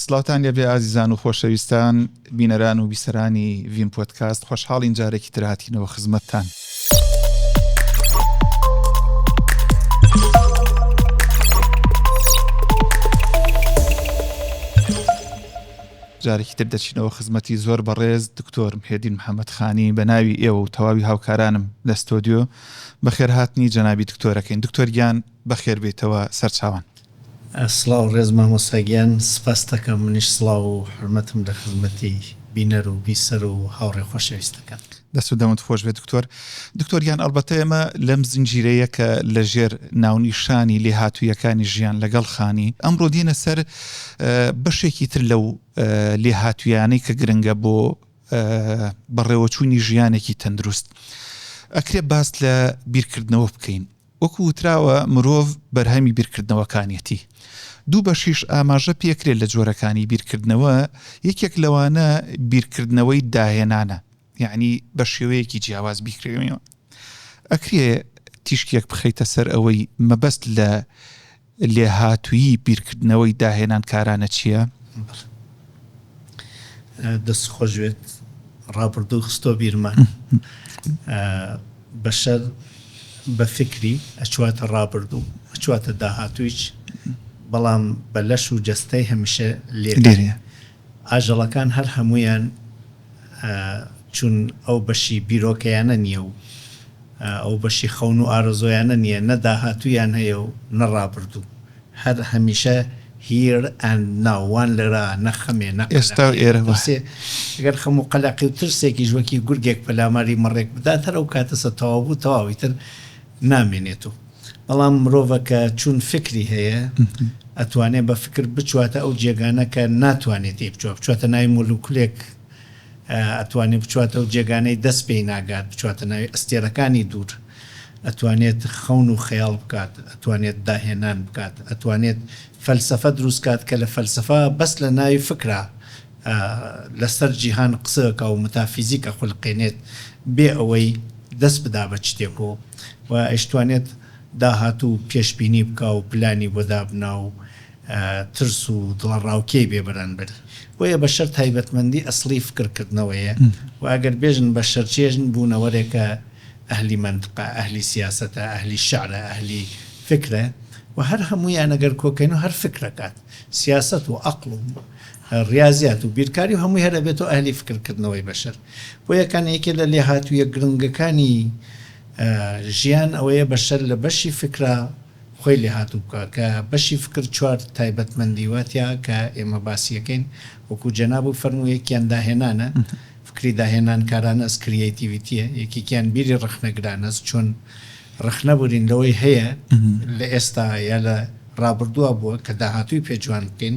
سڵاوتان لێبێ ئازیزان و خۆشەویستان بینەران و بیسەرانی ڤیم پۆدکاست خۆشحاڵین جارێکی تر هاتینەوە خزمەتتان. جارێکی تر دەچینەوە خزمەتی زۆر بەڕێز دکتۆر هێدین محەممەد خانی بە ناوی ئێوە و تەواوی هاوکارانم لە ستۆدیۆ بەخێرهاتنی جەنابی دکتۆرەکەین دکتۆر گیان بەخێربێتەوە سەرچوان سڵاو ڕێز مامۆستا گیان سپاستەکەم منیش سڵاو و حورمەتم لە خزمەتی بینەر و بیسەر و هاوڕێ خۆشەویستەکەم. دەست و دەمت خۆش بێت دکتۆر. دکتۆر گیان ئەڵبەتە ئێمە لەم زنجیرەیە کە لە ژێر ناونیشانی لێهاتوویەکانی ژیان لەگەڵ خانی، ئەمڕۆ دێینە سەر بەشێکی تر لەو لێهاتوویانەی کە گرنگە بۆ بەڕێوەچوونی ژیانێکی تەندروست. ئەکرێ باس لە بیرکردنەوە بکەین. وەکو وتراوە مرۆڤ بەرهەمی بیرکردنەوەکانیەتی دوو بەشیش ئاماژە پێکرێت لە جۆرەکانی بیرکردنەوە یەکێک لەوانە بیرکردنەوەی داهێنانە یەعنی بە شێوەیەکی جیاواز بیکرێنەوە ئەکرێ تیشکێک بخەیتە سەر ئەوەی مەبەست لە لێهاتوویی بیرکردنەوەی داهێنانکارانە چییە؟ دەست خۆش بێت ڕابردوو خستۆ بیرمان بەشەر بە فکری ئەچواتە ڕابردوو ئەچواتە داهاتوویچ بەڵام بە لەش و جەستەی هەمیشە لێ ئاژەڵەکان هەر هەموویان چون ئەو بەشی بیرۆکەیانە نییە و ئەو بەشی خەون و ئارەزۆیانە نییە، نە داهاتوویان هەیە و نە ڕابردوو، هەر هەمیشە Here and Now وان لێرە، نە خەمێ، نە قەلەقێ، نە ترسێ، گەر خەم و قەلەقی و ترسێکیش وەکی گورگێک پەلاماری مەڕێک بدات هەر ئەو کاتەسە تەواو بوو، تەواو ئیتر نامێنێت و. بەڵام مرۆڤە کە چون فکری هەیە ئەتوانێ بە فکر بچواتە ئەو جێگانە کە ناتوانێ تێی بچوا بچواتە ناوی مولوکلێک ئەتوانێ بچواتە ئەو جێگانەی دەست پێی ناگات بچواتە ناوی ئەستێرەکانی دوور ئەتوانێت خەون و خەیاڵ بکات ئەتوانێت داهێنان بکات ئەتوانێت فەلسەفە دروست کات کە لە فەلسەفە بەس لە ناوی فکرە لەسەر جیهان قسە ئەکا و متافیزیک ئەخولقێنێت بێ ئەوەی دەست بدا بە چتێک و ئەیشتوانێت داهاتوو پێشبینی بکا و پلانی بۆ دابنا و ترس و دڵەڕاوکێی بێ بەرانبەری. بۆیە بەشەر تایبەتمەندی ئەسڵی فکر کردنەوەیە و ئەگەر بێژن بەشەر چێژن بوونەوەرێکە ئەهلی مەنتقە، ئەهلی سیاسەتە، ئەهلی شعرە، ئەهلی فکرە و هەر هەموویان ئەگەر کۆکەین و هەر فکر ئەکات. سیاسەت و ئەقڵ و. ڕیازیات و بیرکاری و هەمووی هەر ئەبێتۆ ئەهلی فکر کردنەوەی بەشەر بۆیە کان یەکێ لە لێهاتوویە گرنگەکانی ژیان ئەوەیە بەشەر لە بەشی فکرا خۆی لێهاتوو بکا کە بەشی فکر چوار تایبەت مەندی وا تیا کە ئێمە باسی ئەکەین وەکوو جەناب و فەرموو یەکیان داهێنانە فکری داهێنان کارانەس کریەیتیڤیتیە یەکێکیان بیری ڕەخنە گرانەس چۆن ڕەخنە بورین لەوەی هەیە لە ئێستا یا لە ڕابردووا بووە کە داهاتووی پێ جوان بکەین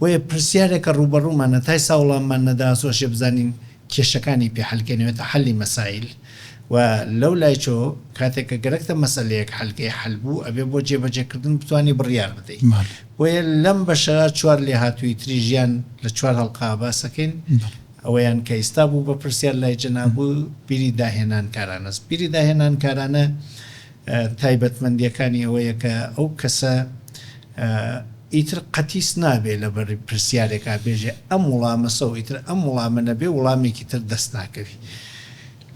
بۆیە پرسیارێکە ڕووبەڕوومانە تا ئێستا وڵاممان نەداسۆشێ بزانین کێشەکانی پێ حەل کەین ئەوێتە حەلی مەسایل و لەولایچۆ کاتێک کە گەرەکتە مەسەلەیەک حەلکەی حەل بوو ئەبێ بۆ جێبەجێکردن بتوانی بڕیار بدەی بۆیە لەم بەشەرا چوار لێهاتووی تری ژیان لە چوار هەڵقە باسەکەین ئەوەیان کە ئیستا بوو بە پرسیار لای جەنابو بیری داهێنانکارانەس بیری داهێنانکارانە تایبەتمەندیەکانی ئەوەیە کە ئەو کەسە ئیتر قەتیس نابێ لە بەر پرسیارێکا بێژێ ئەم وڵامە سەو ئیتر ئەم وڵامە نەبێ وڵامێکی تر دەست ناکەوی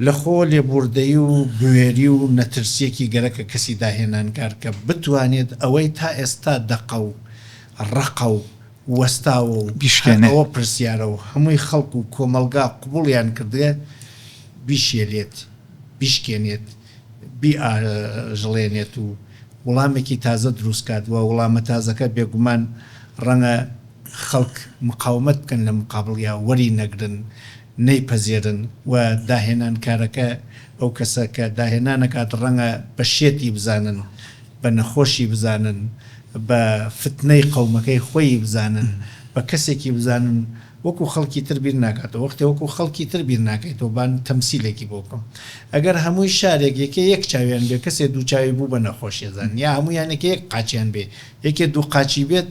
لە خۆ لێبوردەی و بوێری و نەترسیەکی گەرەکە کەسی داهێنانکار کە بتوانێت ئەوەی تا ئێستا دەقە و ڕەقە و وەستاوە و هەر ئەوە پرسیارە و هەمووی خەڵک و کۆمەڵگا قبوڵیان کردگە بیشێلێت بیشکێنێت. بیاژڵێنێت و وڵامێکی تازە دروست کات و وڵامە تازەکە بێگومان ڕەنگە خەڵک مقاومەت بکەن لە مقابڵیا وەری نەگرن نەیپەزێرن و داهێنانکارەکە ئەو کەسە کە داهێنان ئەکات ڕەنگە بە شێتی بزانن بە نەخۆشی بزانن بە فتنەی قەومەکەی خۆیی بزانن بە کەسێکی بزانن وەکو خەڵکی تر بیر ناکاتەوە وەختێ وەکو خەڵکی تر بیر ناکەیتەوە با تەمسیلێکی بۆ بکەم ئەگەر هەمووی شارێک یەکێ یەک چاویان بێ کەسێ دوو چاوی بوو بە نەخۆشیەزان یا هەموویان یەکێ یەک قاچیان بێ یەکێ دوو قاچی بێت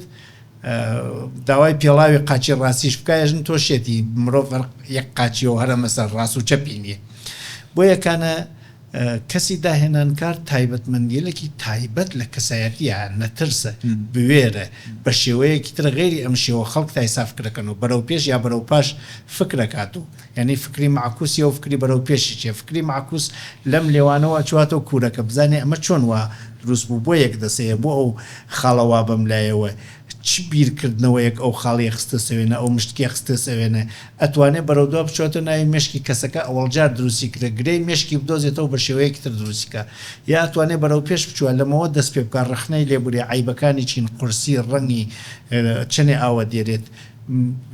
داوای پێڵاوی قاچی ڕاستیش بکە ئێژن تۆ شێتی مرۆڤ یەک قاچیەوە هەرە مەسەر ڕاست و چەپی نیە بۆیە کانە کەسی داهێنانکار تایبەتمەندیلکی تایبەت لە کەسایەتیە، نەترسە، بوێرە، بە شێوەیەکی تر غەیری ئەم شێوە خەڵک تایسا فکرەکەن و بەرەو پێش یا بەرەو پاش فکرەکات و یانی فکری مەعکوس یە و فکری بەرەو پێشی چیە، فکری مەعکوس لەم لێوانەوە ئەچواتەوە کورەکە بزانێ ئەمە چۆن وا دروست بوو بۆ یەک دەسەیە بۆ ئەو خاڵە وا بەم لایەوە چ بیرکردنەوەیەک ئەو خاڵیە خستە سەوێنە ئەو مشتکیە خستە سەوێنە، ئەتوانێت بەرەودوا بچێتە ناوی مێشکی کەسەکە ئەوەڵجار دروستی کردە گرێی مێشکی بدۆزێتەوە بە شێوەیەکی تر دروستی کا یا ئەتوانێت بەرەو پێش بچوە لەمەوە دەست پێ بکا ڕەخنەی لێ بوری عەیبەکانی چین قورسی ڕەنگی چەنێ ئاوە دێرێت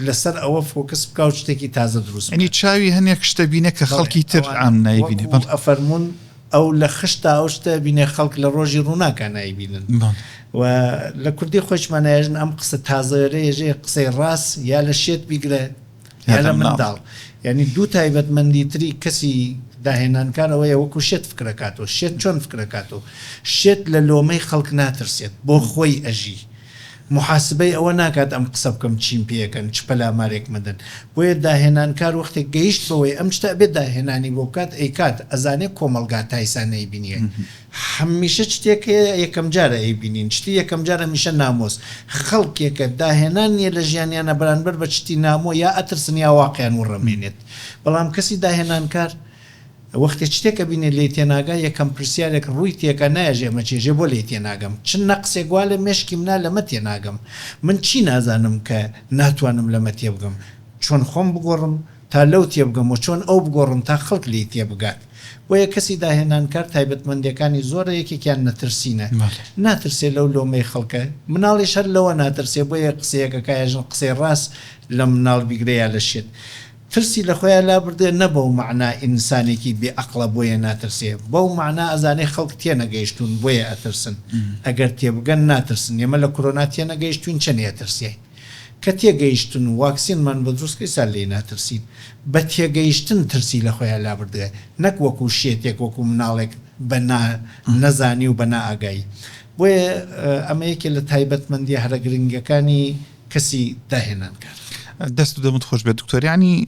لەسەر ئەوە فۆکس بکا و شتێکی تازە دروست بکا. یەنی چاوی هەنێک شتە بینە کە خەڵکی تر عام نایبینێ بەڵێ. وەکو ئەفەرمون ئەو لە خشت تا ئەو شتە بینێ خەڵک لە ڕۆژی ڕووناکا نایبینن و لە کوردی خۆیشمان نایژن ئەم قسە تازەێرە یەژێ قسەی ڕاست یا لە شێت بیگرە یا لە منداڵ یعنی دوو تایبەت مەندی تری کەسی داهێنانکار ئەوەیە وەکو شێت فکرەکاتۆ شێت چۆن فکرەکاتۆ شێت لە لۆمەی خەڵک ناترسێت بۆ خۆی ئەژی موحاسبەی ئەوە ناکات ئەم قسە بکەم چیم پێکەن چ پەلامارێک مەدەن بۆیە داهێنانکار وەختێک گەیشت بەوەی ئەم شتە ئەبێ داهێنانی بۆ بکات ئەیکات ئەزانێ کۆمەڵگا تایسا نەیبینیە هەمیشە چتێک هەیە یەکەم جارە ئەیبینین شتی یەکەم جار هەمیشە نامۆس خەڵکێکە داهێنان نیە لە ژیانیانا بەرانبەر بە چتی نامۆ یا ئەترسن یا واقیان وڕەمێنێت بەڵام کەسی داهێنانکار وەختێ چتێک ئەبینێ لێی تێناگا یەکەم پرسیارێک ڕووی تێکا نایەژێ ئەمە چیە ژێ بۆ لێی تێناگەم چ نەقسێک وا لە مێشکی منا لەمە تێناگەم من چی نازانم کە ناتوانم لەمە تێبگەم چۆن خۆم بگۆڕم تا لەو تێبگەم وە چۆن ئەو بگۆڕم تا خەڵک لێی تێبگات بۆیە کەسی داهێنانکار تایبەتمەندێکانی زۆرە یەکێکیان نەترسینە ناترسێ لەو لۆمەی خەڵکە مناڵیش هەر لەوە ناترسێ بۆیە قسەیەک ئەکا یا ژن قسەی ڕاست لە مناڵ بیگرە یا لە شێت ترسی لە خۆیا لابردێ نە بەو مەعنا ئینسانێکی بێ ئەقڵە بۆیە ناترسێ بەو مەعنا ئەزانێ خەڵک تێنەگەیشتوون بۆیە ئەترسن ئەگەر تێبگەن ناترسن ئێمە لە کورۆنا تێنەگەیشتووین چەنێ ئەترسێین کە تێگەیشتن و واکسینمان بۆ دروست کرد سا لێی ناترسین بە تێگەیشتن ترسی لە خۆیا لابردێ نەک وەکوو شێتێک وەکوو مناڵێک بە نا نەزانی و بە نا ئاگایی بۆیە ئەمە یەکێ لە تایبەتمەندیە هەرە گرنگەکانی کەسی داهێنان کار. دەست و دەمت خۆش بێت دکتۆر یانی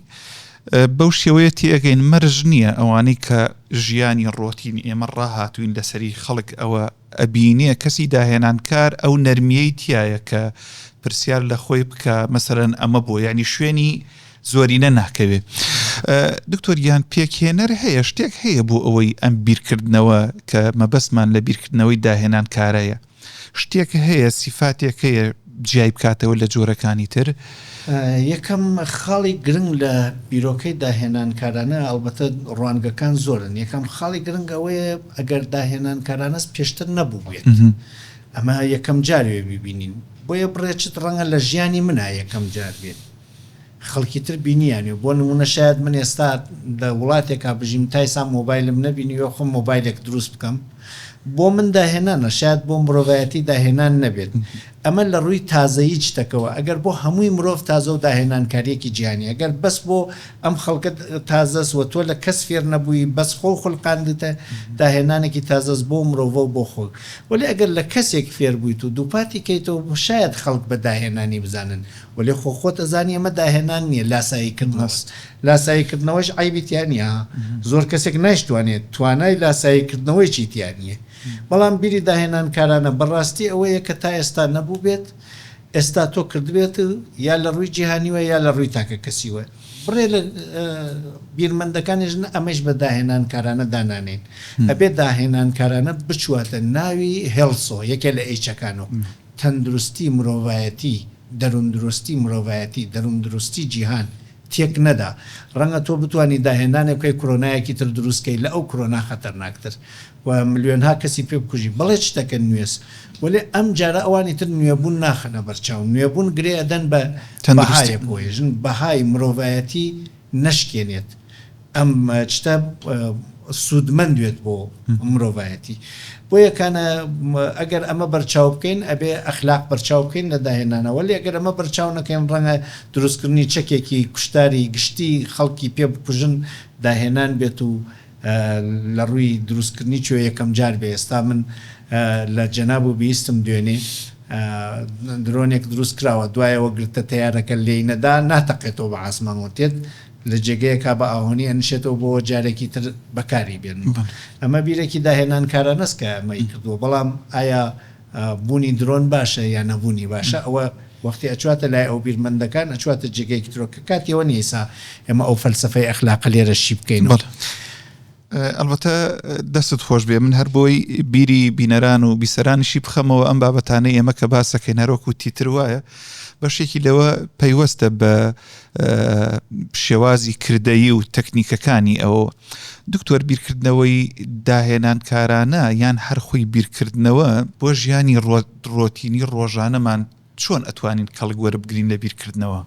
بەو شێوەیە تێگەین مەرج نییە ئەوانەی کە ژیانی ڕۆتین ئێمە ڕاهاتوین لەسەری خەڵک ئەوە ئەبینێ کەسی داهێنانکار ئەو نەرمیەی تایە کە پرسیار لە خۆی بکە مەسەرەن ئەمە بۆ ینی شوێنی زۆرینە ناکەوێ دکتۆریان پێکهێنەر هەیە شتێک هەیە بۆ ئەوەی ئەم بیرکردنەوە کە مەبەستمان لە بیرکردنەوەی داهێنان کارەیە شتێک هەیە سیفاتێک هەیە جیای بکاتەوە لە جۆرەکانی تر؟ یەکەم خاڵی گرنگ لە بیرۆکەی داهێنانکارانە ئەڵبەتە ڕوانگەکان زۆرن یەکەم خاڵی گرنگ ئەوەیە ئەگەر داهێنانکارانەس پێشتر نەبووبێت ئەمە یەکەم جار وێ بیبینین بۆیە بڕێ چت ڕەنگە لە ژیانی منا یەکەم جار بێت خەڵکی تر بینیانیو بۆ نمونە شایەد من ئێستا لە وڵاتێکا بژیم تا ئیستا مۆبایلم نەبینیوە خۆم مۆبایلێک دروست بکەم بۆ من داهێنانە شایەد بۆ مرۆڤایەتی داهێنان نەبێت ئەمە لە ڕووی تازەیی چتەکەوە ئەگەر بۆ هەمووی مرۆڤ تازەو داهێنانکاریەکی جیهانیە گەر بەس بۆ ئەم خەڵکە تازەس و تۆ لە کەس فێر نەبووی بەس خۆو خولقاندیتە داهێنانێکی تازەس بۆ مرۆڤەو بۆ خۆت وەلێ ئەگەر لە کەسێک فێر بوویت و دووپاتی کەیتەوە شایەد خەڵک بە داهێنانی بزانن وەلێ خۆ خۆت ئەزانی ئەمە داهێنان نیە لاسایی کردنەوە بەس لاسایی کردنەوەش عەیبی تیا نیە ها زۆر کەسێک نایشتوانێت توانای لاسایی کردنەوەیەکی تیا نیە بەڵام بیری داهێنان کارانە بە ڕاستی ئەوەیە کە تا ئێستا نەبووبێت ئێستا تۆ کردبێت یا لە ڕووی جیهانیوە یا لە ڕووی تاکە کەسیوە بڕێ لە بیرمەندەکانیش نە ئەمەش بە داهێنان کارانە دانانێن ئەبێ داهێنان کارانە بچواتە ناوی هێڵسۆ یەکێ لە ئێچەکانەوە تەندروستی مرۆڤایەتی دەرووندروستی مرۆڤایەتی دەرووندروستی جیهان تێک نەدا ڕەنگە تۆ بتوانی داهێنانێک بکەی کرۆنایەکی تر دروست کەی لە ئەو کرۆنا خەتەرناک تر و ملیۆنها کەسی پێ بکوژی بەڵێ شتەکە نوێس وەلێ ئەم جارە ئەوانی تر نوێ بوون ناخەنە بەرچاو نوێ بوون گرێ ئەدەن بە بەهایەک وەیژن بەهای مرۆڤایەتی نەشکێنێت ئەم شتە سودمەند بێت بۆ مرۆڤایەتی بۆیە کانە ئەگەر ئەمە بەرچاو بکەین ئەبێ ئەخلاق بەرچاو بکەین لە داهێنانە وەلی ئەگەر ئەمە بەرچاو نەکەین ڕەنگە دروستکردنی چەکێکی کوشتاری گشتی خەڵکی پێ بکوژن داهێنان بێت و لە ڕووی دروست کردنی چۆ یەکەم جار بێ ئێستا من لە جەناب و بیستم دوێنێ درۆنێک دروست کراوە دوایەوە گرتە تەیارەکە لێی نەدا ناتەقێتەوە بە ئاسمان و تێت لە جێگەیەکا بە ئاهۆنی ئەنشێتەوە بۆوە جارێکی تر بەکاری بێنن ئەمە بیرێکی داهێنانکارانەس کە ئەمەی کردووە بەڵام ئایا بونی درۆن باشە یا نەبونی باشە ئەوە وەختی ئەچواتە لای ئەو بیرمەندەکان ئەچواتە جێگەیەکی ترەوە کە کاتی ئەوە نیە ئیسا ئێمە ئەو فەلسەفەی ئەخلاقە لێرە شی بکەینەوە. ئەڵبەتە دەستت خۆش بێ من هەر بۆی بیری بینەران و بیسەرانیشی بخەمەوە ئەم بابەتانەی ئێمە کە باسەکەین هەرۆکو تیتر وایە بەشێکی لەوە پەیوەستە بە شێوازی کردەیی و تەکنیکەکانی ئەوە دکتۆر بیرکردنەوەی داهێنانکارانە یان هەر خۆی بیرکردنەوە بۆ ژیانی ڕۆتینی ڕۆژانەمان چۆن ئەتوانین کەڵک وەربگرین لە بیرکردنەوە؟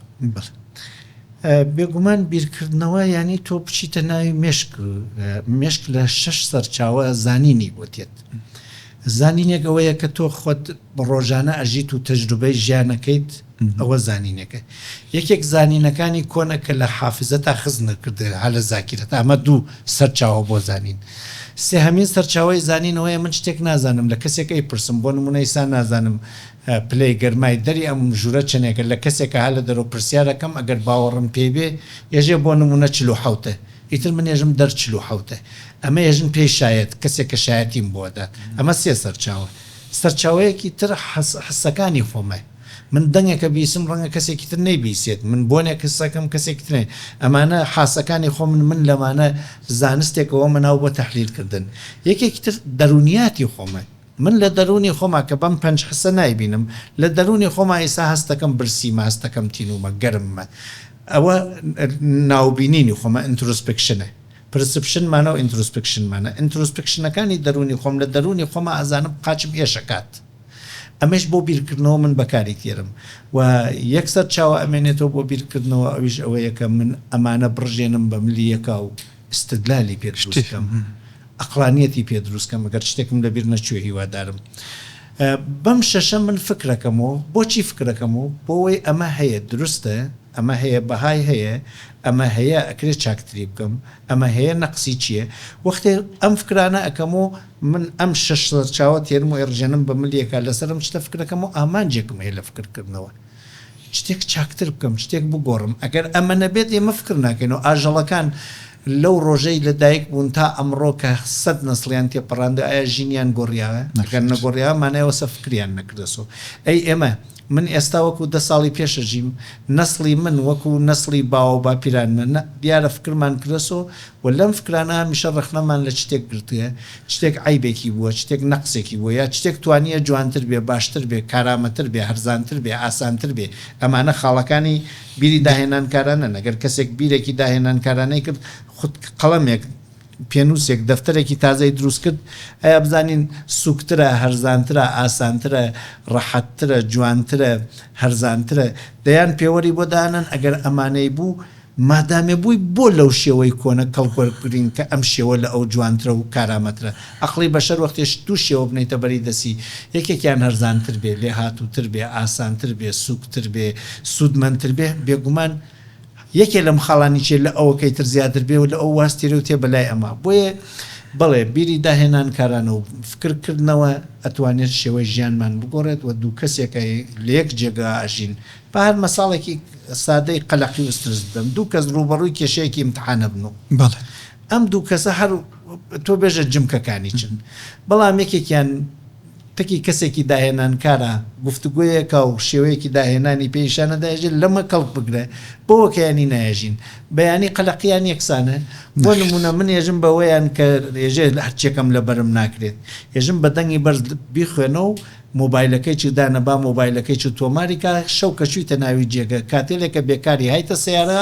بێگومان بیرکردنەوە یانی تۆ بچیتە ناوی مێشک مێشک لە شەش سەرچاوە زانینی بۆ دێت زانینێک ئەوەیە کە تۆ خۆت ڕۆژانە ئەژیت و تەجروبەی ژیانەکەیت ئەوە زانینێکە یەکێک زانینەکانی کۆنە کە لە حافزەتا خز نەکردێت هە لە زاکیرەت ئەمە دوو سەرچاوە بۆ زانین سێهەمین سەرچاوەی زانین ئەوەیە من شتێک نازانم لە کەسێک ئەیپرسم بۆ نمونە ئیسا نازانم پلەی گەرمای دەری ئەم ژورە چەنێکە لە کەسێکە هە لە دەرەوە پرسیارەکەم ئەگەر باوەڕم پێی بێ ئێژێ بۆ نمونە چل و حەوتە ئیتر من ئێژم دەر چل و حەوتە. ئەمە ئێژن پێی شایەت، کەسێک کە شایەتیم بۆ ئەدات. ئەمە سێ سەرچاوە. سەرچاوەیەکی تر حەس، حەسەکانی خۆمە. من دەنگێکە بیسم، ڕەنگە کەسێکی تر نەیبیسێت. من بۆنێک حس ئەکەم، کەسێکی تر نەی. ئەمانە حاسەکانی خۆمن، من لەمانە زانستێکەوەمە ناو بۆ تەحلیل کردن. یەکێکی تر دەروونیاتی خۆمە. من لە دەروونی خۆما کە بەم پەنج حسە نایبینم، لە دەروونی خۆما ئیستا هەستەکەم برسیمە، هەستەکەم تینوومە، گەرممە. ئەوە ناوبینینی خۆمە، ئینترۆسپکشنە. پرسپشن مانە و ئینترۆسپکشن مانە. ئینترۆسپکشنەکانی دەروونی خۆم، لە دەروونی خۆما ئەزانم قاچم ئێش ئەکات. ئەمەیش بۆ بیرکردنەوە من بەکاری دێرم. و یەکسەر چاوە ئەمێنێتەوە بۆ بیرکردنەوە ئەویش ئەوەیە کە من ئەمانە بڕژێنم بە ملیەکا و استدلالی پێ دروست کەم ئەقڵانیەتی پێ دروست کەم گەر شتێکم لە بیر نەچوێ هیوادارم بەم شەشە من فکرەکەم و بۆچی فکرەکەم و بۆوەی ئەمە هەیە دروستە ئەمە هەیە بەهای هەیە ئەمە هەیە ئەکرێ چاکتری بکەم ئەمە هەیە نەقسی چیە وەختێ ئەم فکرانە ئەکەم و من ئەم شەش سەرچاوە تێرم و ئێڕژێنم بە ملیەکا لەسەر ئەم شتە فکرەکەم و ئامانجێکم هەیە لە فکرکردنەوە. شتێک چاکتر بکەم، شتێک بگۆڕم، ئەگەر ئەمە نەبێت ئێمە فکر ناکەین و ئاژەڵەکان لەو ڕۆژەی لە دایک بوون تا ئەمڕۆ کە سەد نەسڵیان تێپەڕاندوە ئایا ژینیان گۆڕیاوە؟ ئەگەر نەگۆڕیاوە مانای ئەوە سە فکریان نەکردەسۆ. ئەی ئێمە، من ئێستا وەکو دە ساڵی پێش ئەژیم، نەسڵی من وەکو نەسڵی باوە و باپیرانمە، نە، دیارە فکرمان کردەسۆ و لەم فکرانە هەمیشە ڕەخنەمان لە چتێک گرتوە، شتێک عەیبێکی بووە، شتێک نەقسێکی بووە، یا شتێک توانییە جوانتر بێ، باشتر بێ، کارامەتر بێ، هەرزانتر بێ، ئاسانتر بێ، ئەمانە خاڵەکانی بیری داهێنانکارانەن، ئەگەر کەسێک بیرێکی داهێنانکارانەی کرد، خود قەڵەمێک، پێنووسێک، دەفتەرێکی تازەی دروست کرد، ئایا بزانین سووکترە، هەرزانترە، ئاسانترە، ڕەحەتترە، جوانترە، هەرزانترە، دەیان پێوەری بۆ دانەن، ئەگەر ئەمانەی بوو، مادامێ بووی بۆ لەو شێوەی کۆنە کەڵک وەربگرین کە ئەم شێوە لە ئەو جوانترە و کارامەترە. ئەقڵی بەشەر وەختێ شت دوو شێوە بنێیتە بەری دەستی، یەکێکیان هەرزانتر بێ، لێهاتووتر بێ، ئاسانتر بێ، سووکتر بێ، سوودمەندتر بێ، بێگومان یەکێ لەم خاڵانی چیە لە ئەوەکەی تر زیاتر بێ و لە ئەو واز تێرێ و تێ بەلای ئەمە. بۆیە بەڵێ بیری داهێنان کارانە و فکر کردنەوە ئەتوانێت شێوەی ژیانمان بگۆڕێت و دوو کەسێکە لە یەک جێگا ئەژین بە هەر مەساڵێکی سادەی قەلەقی و سترس بدەم، دوو کەس ڕووبەڕووی کێشەیەکی ئیمتحان ئەبن و ئەم دوو کەسە هەر تۆ بێژە جمکەکانی چن، بەڵام یەکێکیان تەکی کەسێکی داهێنانکارە، گفتوگۆیەکە و شێوەیەکی داهێنانی پێ نیشانە دەهێژێت، لەمە کەڵک بگرە، بەوەکەیانی نایێژین، بەیانی قەلەقیان یەکسانە، بۆ نموونە من ئێژم بەوەیان کە ئێژێ هەرچییەکەم لەبەرم ناکرێت، ئێژم بە دەنگی بەرز بیخوێنە و مۆبایلەکەی چ دانە با مۆبایلەکەی چ تۆماری کا شەو کە چویتە ناوی جێگە کاتێلێ کە بێکاری هایتە سەیارە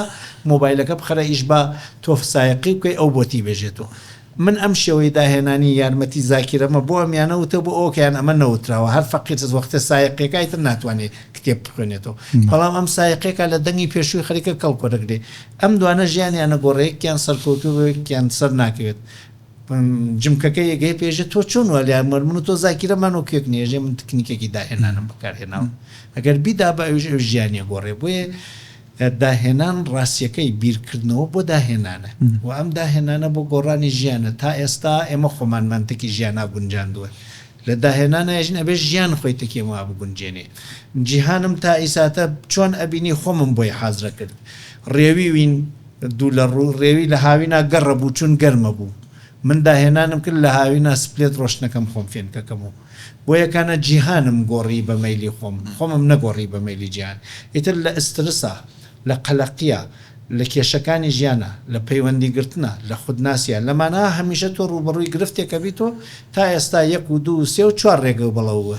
مۆبایلەکە بخەرە ئیش با تۆف سایەقی بکەی ئەو بۆتی بێژێتۆ من ئەم شێوەی داهێنانی یارمەتی زاکیرەمە بۆ ئەمیانە وتە بۆ ئەوکەیان ئەمە نەوتراوە هەر فەقیر وەختێ سایەقیەکای تر ناتوانێ کتێب بخوێنێتۆ بەڵام ئەم سایەقیەکا لە دەنگی پێشوی خەریکە کەڵک وەرەگرێ ئەم دوانە ژیانیانە گۆڕێ یەکیان سەرکەوتوبێ و یەکیان سەر ناکەوێت جمکەکە یەگەی پێژێ تۆ چۆن وا لێ ئەمەر من و تۆ زاکیرە مان وەک یەک نیەژێ من تکنیکێکی داهێنانم بەکارهێناوە ئەگەر بیدا بە ئەویش ئەویش ژیانی ئەگۆڕێ بۆیە داهێنان ڕاستیەکەی بیرکردنەوە بۆ داهێنانە و ئەم داهێنانە بۆ گۆڕانی ژیانە تا ئێستا ئێمە خۆمان مەنتەکی ژیانا گونجاندوە لە داهێنانا یژن ئەبێ ژیان خۆی تەکی ئەم وا بگونجێنێ جیهانم تا ئیساتە چۆن ئەبینی خۆمم بۆی حازرە کرد ڕێوی وین دوو لە ڕوو ڕێوی لە هاوینا گەڕە بوو چون گەرمە بوو من داهێنانم کرد لە هاوینا سپلێت ڕۆشتنەکەم خۆم فێنکەکەم و بۆ یەکانە جیهانم گۆڕی بە مەیلی خۆم خۆمم نەگۆڕی بە مەیلی جیهان ئیتر لە ئسترسا لە قەلەقیا لە کێشەکانی ژیانا لە پەیوەندی گرتنا لە خود ناسیا لە ماناا هەمیشە تۆ ڕووبەڕووی گرفتێکەبیت و تا ئێستا یەک و دوو و سێ و چوار ڕێگەو بەڵەووە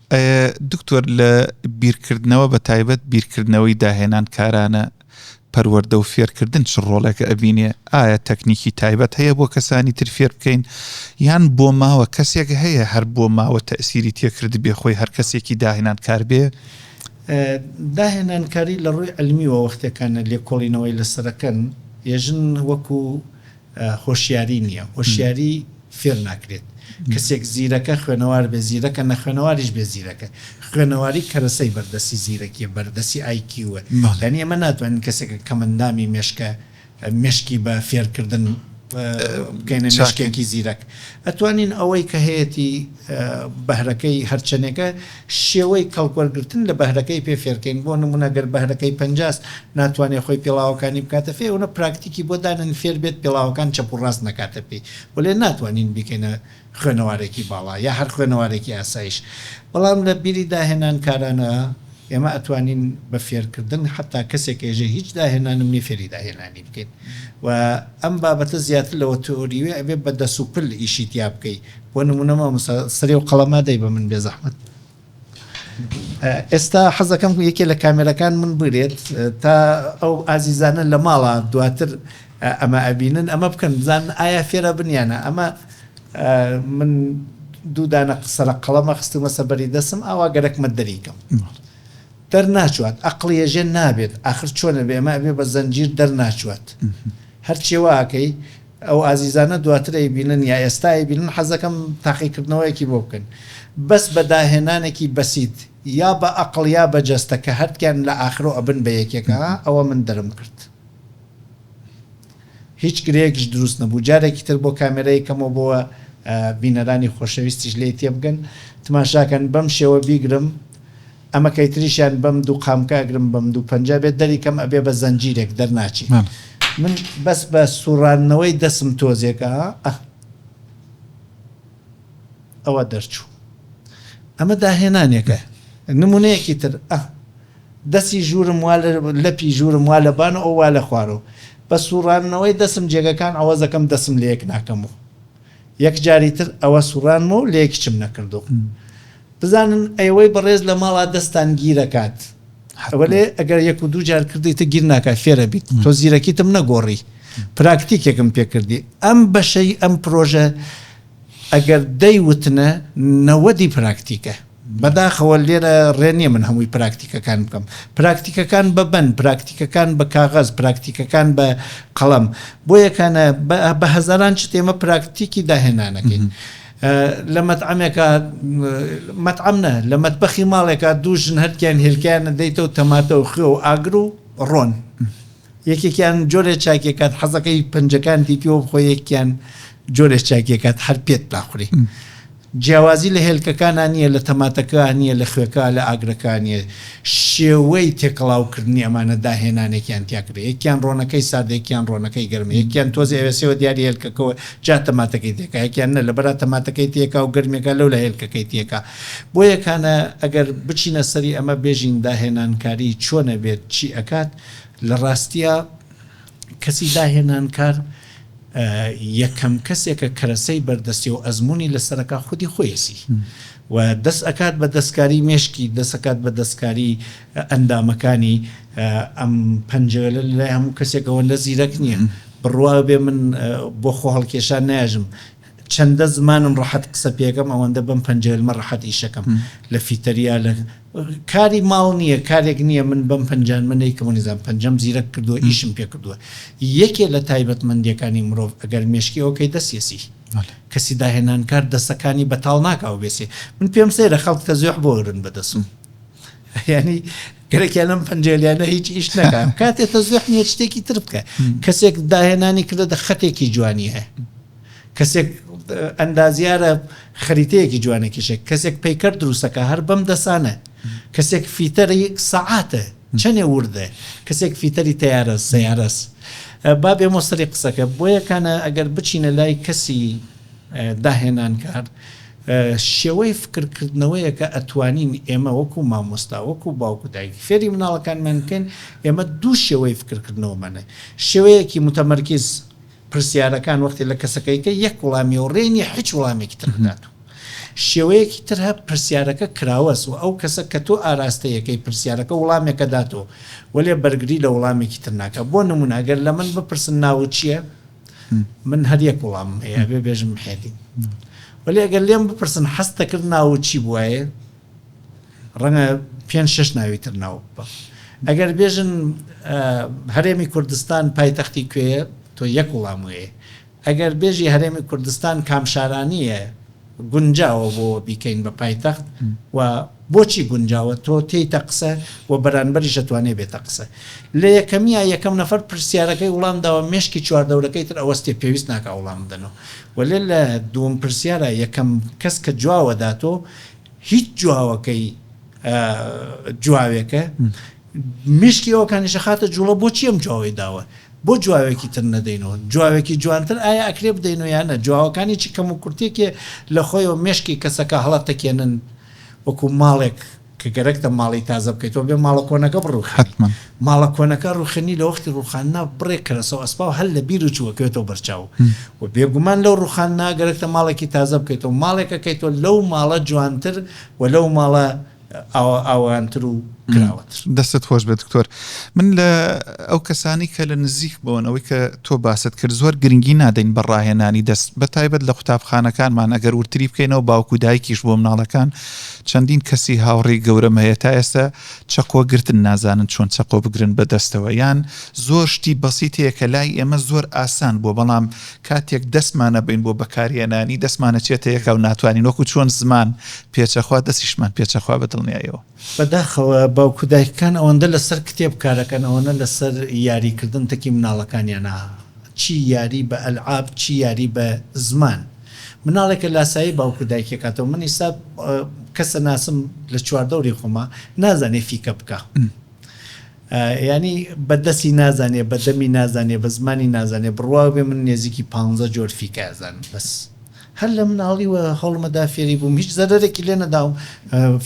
ئەه دکتۆر لە بیرکردنەوە بە تایبەت بیرکردنەوەی داهێنان کارانە پەروەردە و فێرکردن چ ڕۆڵێکە ئەبینێ ئایا تەکنیکی تایبەت هەیە بۆ کەسانی تر فێر بکەین یان بۆ ماوە کەسێک هەیە هەر بۆ ماوە تەسیری تێکرد بێ خۆی هەر کەسێکی داهێنان کار بێ داهێنانکاری لە ڕووی علمیوە وەختێکانە لێکۆڵینەوەی لەسەرەکەن یەژن وەکو هۆشیاری نییە، هۆشیاری فێر ناکرێت، کەسێک زیرەکە خوێنەوار بێت زیرەکە، نەخوێنەواریش بێت زیرەکە، خوێنەواری کەرەسەی بەردەستی زیرەکییە، بەردەستی ئای کیووە، یانی ئێمە ناتوانین کەسێک کەمئەندامی مێشکە مێشکی بە فێرکردن بکەینە مێشکێکی زیرەک، ئەتوانین ئەوەی کە هەیەتی بەهرەکەی هەرچەنێکە، شێوەی کەڵکوەرگرتن لە بەهرەکەی پێ فێرکەین بۆ نمونە گەر بەهرەکەی پەنجاس ناتوانێ خۆی پێڵاوەکانی بکاتە فێ ئەونە پراکتیکی بۆ دانێن فێربێت پێڵاوەکان چەپ و ڕاست نەکاتە پێی وەلێ ناتوانین بیکەینە خوێنەوارێکی باڵا یا هەر خوێنەوارێکی ئاسایش بەڵام لە بیری داهێنان کارانە ئێمە ئەتوانین بە فێرکردن حەتا کەسێک کە ئێژێ هیچ داهێنانم نیە فێری داهێنانی بکەین وە ئەم بابەتە زیاتر لەوە تئۆریوە ئەبێ بە دەس و پل ئیشی تیا بکەی بۆ نمونە مامۆستا سەری ئەو قەڵەمە دەی بە من بێزەحمەت ئێستا حەزەکەم یەکێ لە کامێرەکان من بگرێت تا ئەو ئازیزانە لە ماڵە دواتر ئەمە ئەبینن ئەمە بکەن بزان ئایا فێرە بنیانە ئەمە من دوو دانە قسەرە قەڵەمە خستومە سەبەری دەسم ئاوا گەرەکمە دەریکەم دەرناچوات ئەقلیە ژێن نابێت ئاخر چۆنە بێمە ئەبێ بە زەنجیر دەرناچوات هەرچێواکەی ئەو ئازیزانە دواتر ئەیبینن یا ئێستا ئەیبینن حەزدەکەم تاقیکردنەوەیەکی بۆ بکەن بەس بە داهێنانێکی بەسیت یا بە ئەقڵ یا بە جەستە کە هەردکیان لە ئاخرۆ ئەبن بە یەکێک ها ئەوە من دەرم کرد هیچ گرێیەکش دروست نەبوو جارێکی تر بۆ کامێرە یکەمەوە بۆ بینەرانی خۆشەویستیش لێی تێبگەن تماشاکەن بەم شێوە بیگرم ئەمە کەی تریشیان بەم دوو قامکە ئەگرم بەم دوو پەنجە بێت دەری کەم ئەبێ بە زەنجیرێک دەرناچی من بەس بە سوڕاندنەوەی دەسم تۆزێک ئا ئەه ئەوە دەرچوو ئەمە داهێنانێکە نمونەیەکی تر ئەه دەسی ژوورم وا لەپی ژوورم وا لە بان و ئەو وا لە خوارەوە بە سوڕاندنەوەی دەسم جێگەکان ئەوەزەکەم دەسم لە یەک ناکەم و یەک جاری تر ئەوە سوڕانمە و لە یەکیچم نەکردو بزانن ئێوەی بەڕێز لە ماڵا دەستان گیر ئەکات وەلێ ئەگەر یەک و دوو جار کردیتە گیر ناکات فێر ئەبیت تۆ زیرەکیتم نەگۆڕی پراکتیکێکم پێ کردی ئەم بەشەی ئەم پرۆژە ئەگەر دەی وتنە نەوەدی پراکتیکە بەداخەوە لێرە ڕێ نیە من هەمووی پراکتیکەکان بکەم پراکتیکەکان بە بەن پراکتیکەکان بە کاغەز پراکتیکەکان بە قەڵەم بۆیەکانە بە هەزاران شت ئێمە پراکتیکی داهێنانەکەین. لە مەتعەمێکا، مەتعەم نا، لە مەتبەخی ماڵێکا دوو ژن هەرکیان هێلکەیانە دەیتەوە تەماتە و خوێ و ئاگر و ڕۆن. یەکێکیان جۆرێ چاکیەکات حەزەکەی پەنجەکانتی پیوە بخۆی یەکیان جۆرێ چاکیەکات هەر پێت ناخوری. جیاوازی لە هێلکەکانا نیە، لە تەماتەکا نیە، لە خوێکا، لە ئاگرەکا نیە. شێوەی تێکەڵاو کردنی ئەمانە داهێنانێکیان تیا کردە. یەکیان ڕۆنەکەی ساردە یەکیان ڕۆنەکەی گەرمە یەکیان تۆزێ ئەوێسێوە دیاری هێلکەکەوە جا تەماتەکەی تێکا یەکیان نە لەبەرا تەماتەکەی تێکا و گەرمیەکا لەولا هێلکەکەی تێکا بۆیە کانە ئەگەر بچینە سەری ئەمە بێژین داهێنانکاری چۆنە بێت چی ئەکات لە ڕاستیا کەسی داهێنانکار یەکەم کەسێکە کەرەسەی بەردەستی و ئەزمموی لەسەرەکە خودی خۆیسی و دەست ئەکات بە دەستکاری مێشکی دەسەکات بە دەستکاری ئەندامەکانی ئەم پەنجەوێلە لای هەموو کەسێکەوە لە زیرەک نییە بڕواو بێ من بۆ خۆ هەڵکێشان نایژم چەندە زمانم ڕەحەت قسە پێکەم ئەوەندە بەم پەنجەیلمە ڕەحەت ئیشەکەم لە فیتەریا لە کاری ماڵ نییە کارێک نییە من بەم پەنجانمە نەیکەم و نزان پەنجەم زیرەک کردووە ئیشم پێ کردووە یەکێ لە تایبەتمەندیەکانی مرۆڤ ئەگەر مێشکی ئەوکەی دەسیەسی کەسی داهێنانکار دەسەکانی بەتاڵ ناکاو بێسێ من پێم سەیرە خەڵک تەزێح بۆ ئەگرن بەدەسم یعنی گەرەکیان لەم پەنجێلیانە هیچ ئیش نەکەم کاتێ تە زۆح نیە شتێکی تر بکە کەسێک داهێنانی کردە دە خەتێکی جوانی هەیە کەسێک ئەندازیارە خەریتەیەکی جوانێکیشێک کەسێک پیکەر دروستەکە هەر بەم دەسانە کەسێک فیتەری سەعاتە چەنێ وردە کەسێک فیتەری تیارە سیارەس با بێ مۆسەری قسەکە بۆیەکانە ئەگەر بچینە لای کەسی داهێنانکار شێوەی فکر کردنەوەیەکە ئەتوانین ئێمە وەکو مامۆستا وەکو باوک و دایک فێری مناڵەکانمان بکەین ئێمە دوو شێوەی فکر کردنەوەمان هەیە شێوەیەکی متمرکز پرسیارەکان وەختی لە کەسەکەیکە یەک وڵامی و ڕێ نیە حیچ وڵامێکی تر بدات و شێوەیەکی تر هە پرسیارەکە کراوەس و ئەو کەسە کە تۆ ئاراستەیەکەی پرسیارەکە وڵامێکە داتۆ وەلێ بەرگری لە وڵامێکی تر ناکە بۆ نمونە گەر لە من بپرسن ناوت چیە؟ من هەر یەک وڵامم هەیە ئەبێ بێژم حێلی وەلی ئەگەر لێم بپرسن حەستەکرد ناو چی بواە ڕەنگە پێ شش ناوی تر ناو بە ئەگەر بێژن هەرێمی کوردستان پایتەختی کوێە تۆ یەک وڵام وێ ئەگەر بێژی هەرێمی کوردستان کامشارانیە گونجاوە بۆ بیکەین بە پایتەخت و بۆچی گونجاوە تۆ تێیتە قسە و بەرانبەریش ئەتوانێ بێتە قسە لە یەکەمیا یەکەم نەفەر پرسیارەکەی وڵام داوە مێشکی چواردەورەکەی تر ئەوەستێ پێویست ناکا وڵام بدەنۆ وەلێ لە دووم پرسیارا یەکەم کەس کە جواوە داتۆ هیچ جواوەکەی جواوێکە مشکی ئەوکانی شەخاتە جوڵە بۆچی ئەم جواوەی داوە بۆ جواوێکی تر نەدەینەوە جواوێکی جوانتر ئایا ئەکرێ بدەینەوە یان نە جواوەکانی چی کەم و کورتێکێ لە خۆیەوە مێشکی کەسەکە هەڵە تەکێنن وەکو ماڵێک کە گەرەکتە ماڵی تازە بکەیتەوە بێ ماڵە کۆنەکە بڕوخێنی ماڵە کۆنەکە ڕوخێنی لە وەختی ڕوخاندنا بڕێک کەرەسە و ئەسپاو هەر لە بیر و چوو ئەکەوێتەوە بەرچاو و بێگومان لەو ڕوخاندنا گەرەکتە ماڵێکی تازە بکەیتەوە ماڵێک ئەکەیتەوە لەو ماڵە جوانتر و لەو ماڵە ئاوەوانتر و کراوەتر. دەستت خۆش بێت دکتۆر من لە ئەو کەسانی کە لە نزیک بۆن ئەوەی کە تۆ باست کرد زۆر گرنگی نادەین بە ڕاهێنانی دەست بە تایبەت لە قوتابخانەکانمان ئەگەر ورتری بکەینەوە باوکو دایکیش بۆ مناڵەکان چەندین کەسی هاوڕێی گەورەم هەیە تا ئێستا چەقۆ گرتن نازانن چۆن چەقۆ بگرن بە دەستەوە یان زۆر شتی بەسیتەیە کە لای ئێمە زۆر ئاسان بووە بەڵام کاتێک دەستمان ئەبەین بۆ بەکارهێنانی، دەستمان ئەچێتە یەکا و ناتوانین، وەکو چۆن زمان پێچەخوا دەستیشمان پێچەخوا بە دڵنیایەوە. بەداخەوە باوک و دایکەکان ئەوەندە لەسەر کتێب کارەکەن ئەوەنە لەسەر یاری کردن تەکی مناڵەکانیانە چی یاری بە ئەلعاب چی یاری بە زمان مناڵێکە لاسایی باوک و دایکی کاتەوە من ئیستا کەسە ناسم لە چواردەوری خۆما نازانێ فیکە بکا یانی بە دەسی نازانێ بە دەمی نازانێ بە زمانی نازانێ بڕواو بێ من نێزیکی پانزە جۆر فیکە ئەزانم بەس هەر لە مناڵیوە هەوڵمەدا فێری بووم هیچ زەرەرێکی لێ نەداوم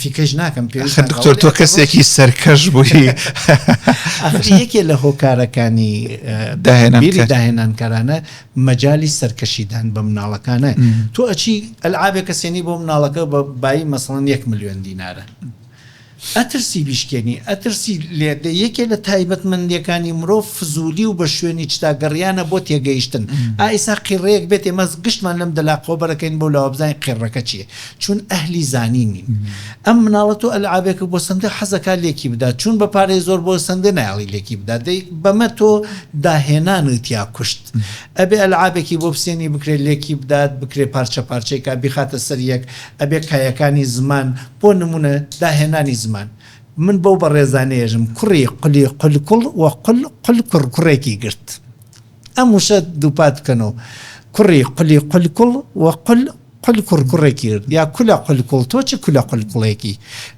فیکەش ناکەم پێ ئەخە دکتۆر تۆ کەسێکی سەرکەش بووی ئەخی یەکێ لە هۆکارەکانی داهێنان بیری کە- داهێنانکارانە مەجالی سەرکەشیدان بە مناڵەکانە تۆ ئەچی ئەلعابێکە سێنی بۆ مناڵەکە بە بایی مەسەڵەن یەک ملیۆن دینارە ئەترسی بیشکێنی، ئەترسی لێدە، یەکێ لە تایبەتمەندیەکانی مرۆڤ فزولی و بە شوێنی چتا گەڕیانە بۆ تێگەیشتن، ئا ئیسا قیڕەیەک بێت ئێمە گشتمان لەم دەلاقەوە بەرەکەین بەو لاوە بزانین قیڕەکە چیە، چون ئەهلی زانین نین. ئەم مناڵە تۆ ئەلعابێکە بۆ سندە حەزەکا لێکی بدا، چون بە پارەی زۆر بۆ سندە نایەڵی لێکی بدا، دەی بەمە تۆ داهێنانت یا کوشت. ئەبێ ئەلعابێکی بۆ بسێنی بکرێ لێکی بدات، بکرێ پارچە پارچەی کا بیخاتە سەر یەک، ئەبێ کایەکانی زمان بۆ نموونە داهێنانی زمان من بەو بەڕێزانەیەژم کوڕی قلی قل کوڵ و قل قل کوڕ کوڕێکی گرت ئەم وشە دووپات بکەنەوە کوڕی قلی قل کوڵ و قل قل کوڕ کوڕێکی گرت یا کولە قل کوڵ تۆ چ کولە قل کوڵێکی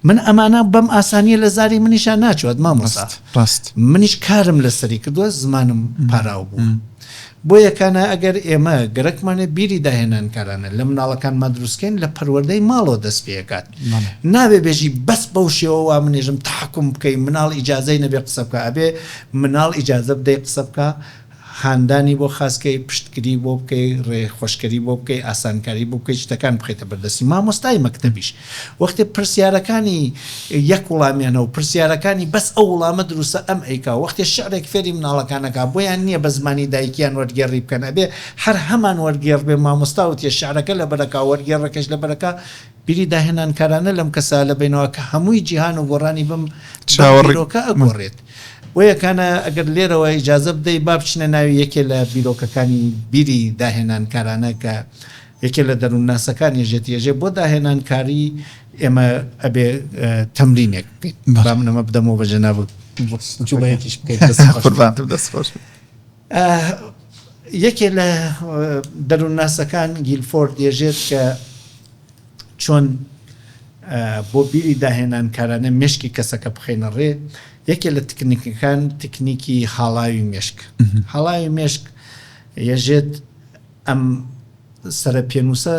من ئەمانە بەم ئاسانیە لە زاری منیشان ناچوات مامۆستا ڕاست ڕاست منیش کارم لەسەری کردووە زمانم پاراو بوو. بۆیە کانە ئەگەر ئێمە گەرەکمانە بیری داهێنانکارانە لە مناڵەکانما دروستکەین لە پەروەردەی ماڵەوە دەست پێئەکات نابێ بێژی بەس بەو شێوە وامنێژم تەحەکوم بکەی مناڵ ئیجازەی نەبێ قسە بکا ئەبێ مناڵ ئیجازە بدەی قسە بکا هاندانی بۆ خاس کەی پشتگری بۆ بکەی ڕێ خۆشکەری بۆ بکەی ئاسانکاری بۆ بکەی شتەکان بخەیتە بەردەستی مامۆستای مەکتەبیش وەختێ پرسیارەکانی یەک وڵامیانە و پرسیارەکانی بەس ئەو وڵامە دروستە ئەم ئەیکا و وەختێ شعرێک فێری مناڵەکان ئەکا بۆیان نیە بە زمانی دایکیان وەرگێڕی بکەن ئەبێ هەر هەمان وەرگێڕ بێ مامۆستا وتیە شعرەکە لەبەر ئەکا وەرگێڕەکەش لەبەر ئەکا بیری داهێنانکارانە لەم کەسە لەبەینەوە کە هەمووی جیهان و گۆڕانی بم بەم بیرۆکە ئەگۆڕێت بۆیەکانە ئەگەر لێرەوە ئیجازە بدەی با بچینە ناوی یەکێ لە بیرۆکەکانی بیری داهێنانکارانە کە یەکێ لە دەروونناسەکان یەژێتی ئێژێ بۆ داهێنان کاری ئێمە ئەبێ تەمرینێک بکەین با من ئەمە بدەمەوە بە جەنابت جوڵەیەکیش بکەیت قوربانتم دەست خۆش یەکێ لە دەروونناسەکان گیلفۆرد دێژێت کە چۆن بۆ بیری داهێنان کارانە مشکی کەسەکە بخینە ڕێ یەکێ لە تکنیکەکان تکنیکی هاڵاوی مشک هەڵاوی مشک یەژێت ئەم سەرە پێنووسە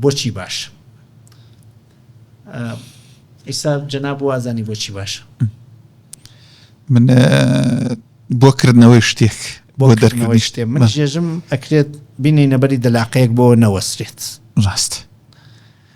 بۆچی باشە؟ ئیستا جەناب وازانی بۆچی باشە؟ من بۆ کردنەوەی شتێک بۆ دەرکردنەوەی شتێ من جێژم ئەکرێت بینینەبەری دەلاقەیەک بۆ نەوەسرێت ڕاست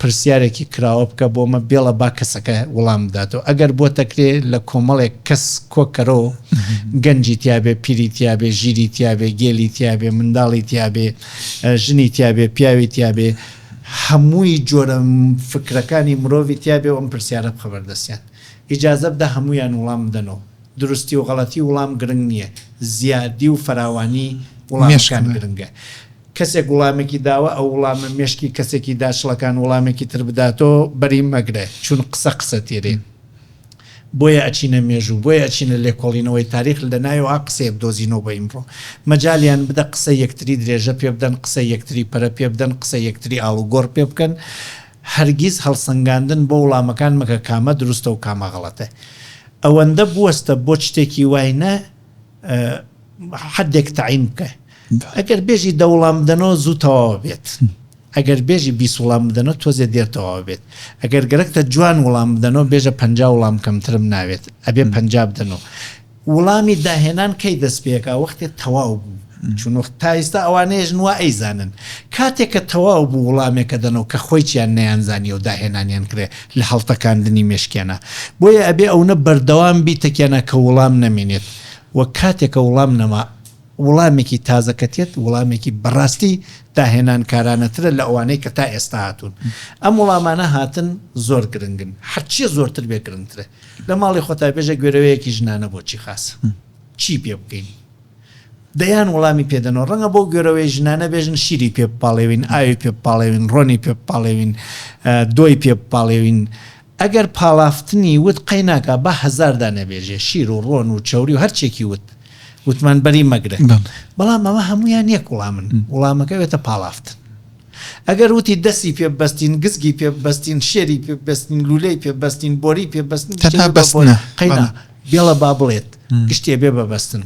پرسیارێکی کراوە بکە بۆمە بێڵە با کەسەکە وڵام بداتەوە ئەگەر بۆتە کرێ لە کۆمەڵێک کەس کۆ کەرۆ گەنجی تیابێ پیری تیابێ ژیری تیابێ گێلی تیابێ منداڵی تیابێ ژنی تیابێ پیاوی تیابێ هەمووی جۆرە فکرەکانی مرۆڤی تیابێ ئەم پرسیارە بخە بەردەستیان ئیجازە بدە هەموویان وڵام بدەنەوە دروستی و غەڵەتی وڵام گرنگ نییە زیادی و فراوانی وڵامەکان گرنگە. کەسێک وڵامێکی داوە ئەو وڵامە مێشکی کەسێکی داچڵەکان وڵامێکی تر بداتۆ بەری مەگرە چون قسە قسە تێرین بۆیە ئەچینە مێژوو بۆیە ئەچینە لێکۆڵینەوەی تاریخ لەناوێوا قسەیە بدۆزینۆ بۆ ئیمڕۆ مەجالیان بدە قسە یەکتری درێژە پێ بدەن قسە یەکتری پەرە پێ بدەن قسە یەکتری ئاڵو گۆڕ پێ بکەن هەرگیز هەڵسەنگاندن بۆ وڵامەکان مەکە کامە دروستەو کامە غەڵەتە ئەوەندە بوەستە بۆ چتێکی وای نە حەدێک تەعین بکە ئەگەر بێژی دە وڵام بدەنەوە زوو تەواوە بێت ئەگەر بێژی بیست وڵام بدەنەوە تۆزێ دێر تەواوە بێت ئەگەر گەرەکتە جوان وڵام بدەنەوە بێژە پنج وڵام کەمترم ناوێت ئەبێ پنج بدەنەوە وڵامی داهێنان کەی دەست پێکا وەختێ تەواو بوو چون وەخت تا ئێستا ئەوانەیە ژنوە ئەیزانن کاتێک کە تەواو بوو وڵامێکە دەنەوە کە خۆی چیان نیانزانانی و داهێنانیان کرێ لە هەڵتەکاندنی مێشکیانا بۆیە ئەبێ ئەونە بەردەوام بی تەکیانا کە وڵام نەمینێت وە کاتێکە وڵام نەما وڵامێکی تازە کە تێت وڵامێکی بەڕاستی داهێنان کارانەترە لە ئەوانەی کە تا ئێستا هاتوون ئەم وڵامانە هاتن زۆر گرنگن هەرچیە زۆرتر بێ گرنگترە لە ماڵی خۆتا بێژە گوێرەوەیەکی ژنانە بۆ چی خاس چی پێ بکەین. دەیان وڵامی پێ دەنەوە. ڕەنگە بەو گۆرەوەی ژنانە بێژن شیری پێ بپاڵێوین، ئاوی پێ بپاڵێوین، ڕۆنی پێ بپاڵێوین، دۆی پێ بپاڵێوین. ئەگەر پاڵافتنی وت قەی ناکا با هەزار دانە بێژێ، شیر و ڕۆن و چەوری و هەرچێکی وت، وتمان بەری مەگرە. بەڵام ئەمە هەموویان یەک وڵامن، وڵامەکە ئەبێتە پاڵافتن. ئەگەر وتی دەستی پێ ببەستین، گزگی پێ ببەستین، شێری پێ ببەستین، لولەی پێ ببەستین، بۆری پێ ببەستین، تەنها بەستنە. قەی نا. بێڵە با بڵێت گشتێ بێ بە بەستن.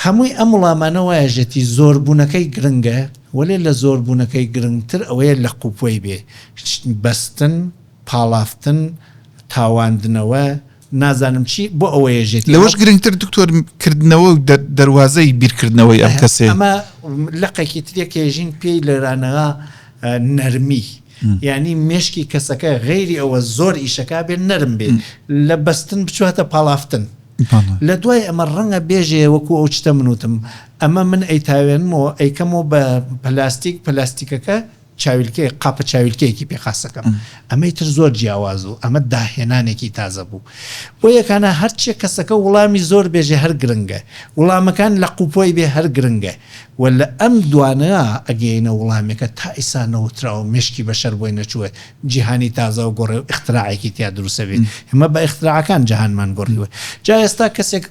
هەمووی ئەم وڵامانە وایەژێتی زۆربوونەکەی گرنگە، وەلێ لە زۆربوونەکەی گرنگتر ئەوەیە لە قوپۆی بێ بەستن، پاڵافتن، تاواندنەوە، نازانم چی، بۆ ئەوە یەژێتی. لەوەش گرنگتر دکتۆر کردنەوە و دەروازەی بیرکردنەوەی ئەم کەسێ. ئەمە لقێکی ترێ کە یەژین پێی لێرانەها نەرمی. یانی مێشکی کەسەکە غەیری ئەوە زۆر ئیشەکە بێن نەرم بێت لە بەستن بچواتە پاڵافتن لە دوای ئەمە ڕەنگە بێژێ وەکو ئەو چتە منوتم ئەمە من ئەیتاوێنمەوە ئەیکەمەوە بە پلاستیک پلاستیکەکە چاویلکە قاپە چاویلکەیەکی پێخاستەکەم ئەمەی تر زۆر جیاواز و ئەمە داهێنانێکی تازە بوو بۆ یەکانە هەرچێ کەسەکە وڵامی زۆر بێژێ هەر گرنگە وڵامەکان لە قوپۆی بێ هەر گرنگە وە لە ئەم دوانەیا ئەگەینە وڵامێکە تا ئیسا نەوتراوە مێشکی بەشەر بۆی نەچووە جیهانی تازەو گۆڕێ و ئیختراعێکی تیا دروسەبێ ئێمە بە ئیختراعەکان جەهانمان گۆڕیوە جا ئێستا کەسێک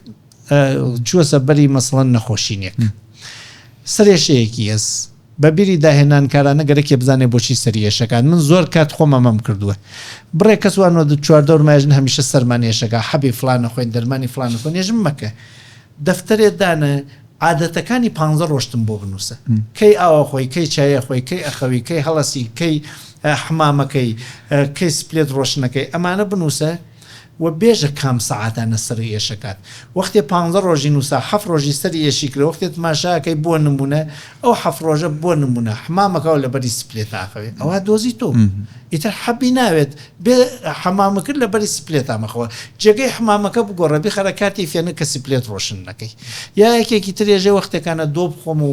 چووە سەربەری مەسڵەن نەخۆشینێک سەرێشەیەکی هەس بە بیری داهێنانکارانە گەرەکێ بزانێ بۆچی سەری ئێشەکان من زۆر کات خۆم ئەمەم کردووە بڕێ کەس وانوە دو چوار دەور ماژن هەمیشە سەرمان ئێشەکە حەبی فڵانە خۆین دەرمانی فڵانە خۆنێژم مەکە دەفتەرێ دانە عادەتەکانی پانزە ڕۆژتم بۆ بنووسە، کەی ئاو ئەخۆی، کەی چای ئەخۆی، کەی ئەخەوی، کەی هەڵەسی، کەی حەمامەکەی، کەی سپلێت ڕۆشنەکەی، ئەمانە بنووسە و بێژە کام سەعاتانە سەری ئێشەکات، وەختێ پانزە ڕۆژی نووسا حەفت ڕۆژی سەری ئێشی کرە، وەختێ تماشا ئەکەی بۆ نموونە ئەو حەفت ڕۆژە بۆ نموونە حەمام ئەکا و لەبەری سپلێتە ئەخەوێ ئەوا دۆزی تۆ بوو ئیتر حەبی ناوێت بێ حەمامەکەت لەبەری سپلێتا مەخەوە جێگەی حەمامەکە بگۆڕە بیخەرە کاتی فێنک کە سپلێت ڕۆشن نەکەی یا یەکێکی ترێژێ وەختێکانە دۆ بخۆم و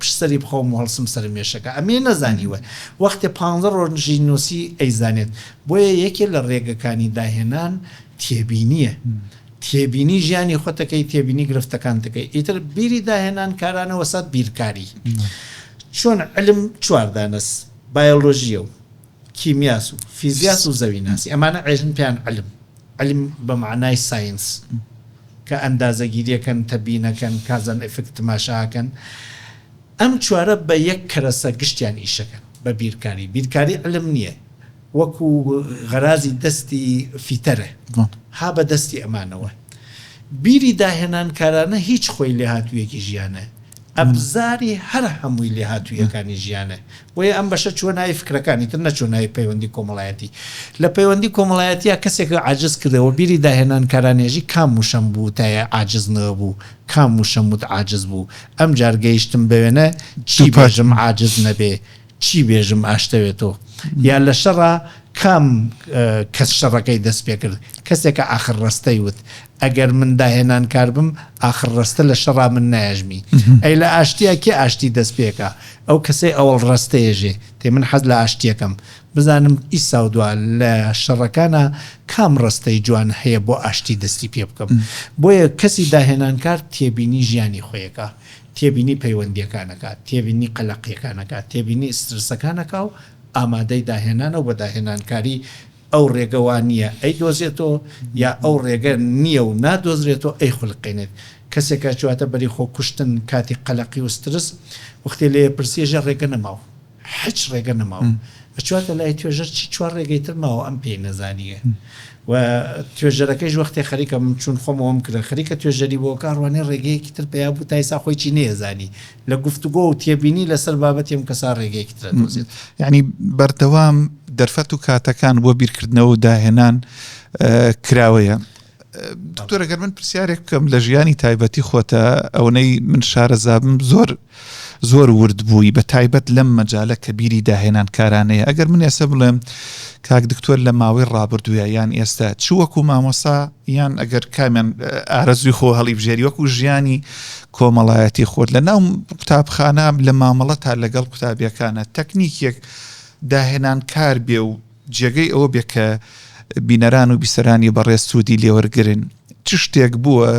پشسەری بخەوم و هەڵسم سەر مێشەکە ئەمێ نەزانیوە وەختێ پانزە ڕۆژی نووسی ئەیزانێت بۆیە یەکێ لە ڕێگەکانی داهێنان تێبینیە تێبینی ژیانی خۆتەکەی تێبینی گرفتەکان دەکەی ئیتر بیری داهێنان کارانە وەسەد بیرکاری چۆن علم چواردانەس بایۆلۆژیە و کیمیاس و فیزیاس و زەویناسی ئەمانە عێژن پێیان علم علم بە مەعنای ساینس کە ئەندازەگیریەکەن تەبینەکەن کازان ئفکت تماشاکەن ئەم چوارە بە یەک کەرەسە گشتیان ئیشەکەن بە بیرکاری بیرکاری علم نیە وەکو غەرازی دەستی فیتەرە ها بە دەستی ئەمانەوە بیری داهێنانکارانە هیچ خۆی لێهاتویەکی ژیانە ئەبزاری هەر هەمووی لێهاتووییەکانی ژیانە. بۆیە ئەم بەشە چووە ناوی فکرەکانی تر، نەچووە ناوی پەیوەندی کۆمەڵایەتی. لە پەیوەندی کۆمەڵایەتییا کەسێک عاجز کردەوە، بیری داهێنان کارانێژی کام وشەم بوو تا یە عاجز نوێ بوو، کام وشەم وت عاجز بوو، ئەمجار گەیشتم بە وێنە چی بێژم عاجز نەبێ، چی بێژم ئاشتەوێ تۆ یا لە شەڕا کام کەس شەڕەکەی دەست پێ کرد کەسێکە ئاخر ڕەستەی وت ئەگەر من داهێنان کار بم ئاخر ڕەستە لە شەڕا من نایژمی ئەی لە ئاشتیا کێ ئاشتی دەست پێکە ئەو کەسەی ئەوەڵ ڕەستەیەژێ تێ من حەز لە ئاشتیەکەم بزانم ئیسا و دوا لە شەڕەکانە کام ڕستەی جوان هەیە بۆ ئاشتی دەستی پێ بکەم بۆیە کەسی داهێنانکار تێبینی ژیانی خۆیەکە تێبینی پەیوەندییەکان ئەکات، تێبینی قەلەقییەکان ئەکات، تێبینی ئیسترسەکان ئەکا و ئامادەی داهێنانە و بە داهێنانکاری ئەو ڕێگە وا نییە ئەیدۆزێتەوە یا ئەو ڕێگە نییە و نادۆزرێتەوە ئەیخولقێنێت. کەسێک کە ئەچواتە بەری خۆ کوشتن کاتی قەلەقی و سترس وەختێ لێی ئەپرسی ئەژێ ڕێگە نەماوە. هیچ ڕێگە نەماوە بچواتە لای توێژەر چی چوار ڕێگەی تر ماوە ئەم پێی نەزانیە و توێژەرەکەیش وەختێ خەریکە من چون خۆم ئەوم کردە خەریکە توێژەری بۆ کە ڕوانێ ڕێگەیەکی تر پیا بوو تایسا خۆی چی نەیەزانی لە گفتوگۆ و تێبینی لەسەر بابەتی ئەم کەسا ڕێگەیەکی ترە دۆزێت یعنی بەردەوام دەرفەت و کاتەکان بۆ بیرکردنەوە و داهێنان کراوەیە. دکتۆر گەر من پرسیارێک بکەم لە ژیانی تایبەتی خۆتە ئەونەی من شارەزابم زۆر زۆر ورد بووی بە تایبەت لەم مەجالە کە بیری داهێنان کارانەیە ئەگەر من ئێستا بڵێم کاک دکتۆر لە ماوەی ڕابردووە یان ئێستا چ وەکو مامۆسا یان ئەگەر کامیان ئارەزوی خۆ هەڵی بژێری وەکو ژیانی کۆمەڵایەتی خۆت لە ناو قوتابخانە لە مامەڵە تا لەگەڵ قوتابیەکانە تەکنیکێک داهێنان کار بێ و جێگەی ئەوە بێ کە بینەران و بیسەرانی بەڕێز سوودی لێوەرگرن چ شتێک بووە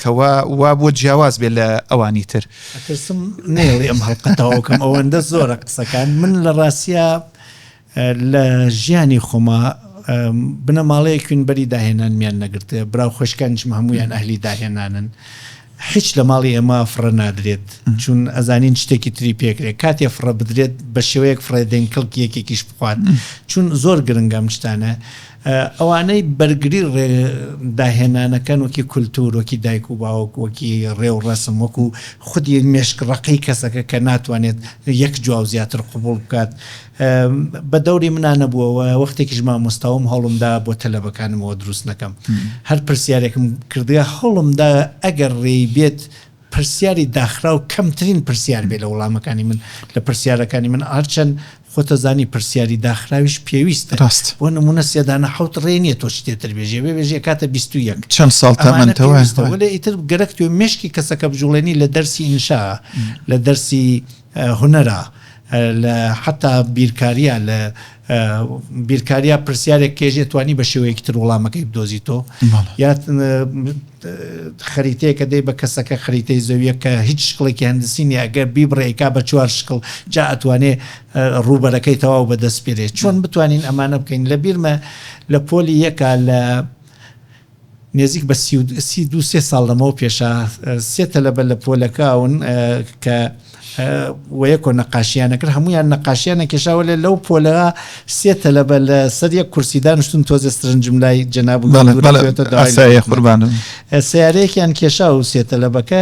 کەوا وا بۆ جیاواز بێ لە ئەوانی تر ئەترسم نێڵی ئەم هەڵقەتەوەکەم ئەوەندە زۆرە قسەکان من لە ڕاستە لە ژیانی خۆما بنەماڵەیەکوین بەری داهێنانمیان نەگرتێ براو خۆشکانشم هەمویان ئەهلی داهێنانن هیچ لە ماڵی ئێمە فڕە نادرێت چون ئەزانین شتێکی تری پێکرێت کاتێ فڕە بدرێت بە شێوەیەک فڕێدەین کەڵکی یەکێکیش بخوات چون زۆر گرنگەم شتانە ئەوانەی بەرگری ڕێ داهێنانەکەن وەکی کولتور وەکی دایک و باوک وەکی ڕێ و ڕەسم وەکو خودی مێشک ڕقی کەسەکە کە ناتوانێت یەک جواو زیاتر قوبوڵ بکات بە دەوری منا نەبووە و وەختێکیش مامۆستابووم هەوڵمدا بۆ تەلەبەکانم ئەوە دروست نەکەم. هەر پرسیارێکم کردگە هەوڵمدا ئەگەر رێی بێت پرسیاری داخراو کەمترین پرسیار بێت لە وڵامەکانی من لە پرسیارەکانی من هەرچەند خۆتەزانی پرسیاری داخراویش پێویستە. راست. بۆ نموونە سێ دانە حەوت رێ نییە تۆ چتێ تر بێژی ئەبێ بێژی ئەکاتە بیست و یەک. چەند ساڵ تەمەنتە وایە. ئەمانە پێویستە. وەلێ ئیتر گەرەک توێ مێشکی کەسەکە بجووڵێنی لە دەرسی ئینشا لە دەرسی هونەرە لە حەتا بیرکاریە لە بیرکاریە پرسیارێک کێژێ توانی بە شێوەیەکی تر وڵامەکەی بدۆزیتۆ یا خەریتەیەکە دەی بە کەسەکە خەریتەی زەویە کە هیچ شکڵێکی هەندسینی ئەگەر بیبڕێکا بە چوار شکڵ جا ئەتوانێ ڕوبەرەکەی تەواو بەدەست پێرێت چۆن بتوانین ئەمانە بکەین لە بیرمە لە پۆلی یەکە لە نێزیک بە سی و سی دوو سێ ساڵ لەمەو پێشە سێ تەلەبە لە پۆلەکەون کە وەیەکۆ نەقاشیانە کرد هەمویان نەقاشیانە کێشاوە لێ لەو پۆلە سێ تەلەبە لە سەر یەک کورسی دانشتون تۆزێ سرنجم لای جەناب قوربان سیارەیەکیان کێشا و سێ تەلەبەکە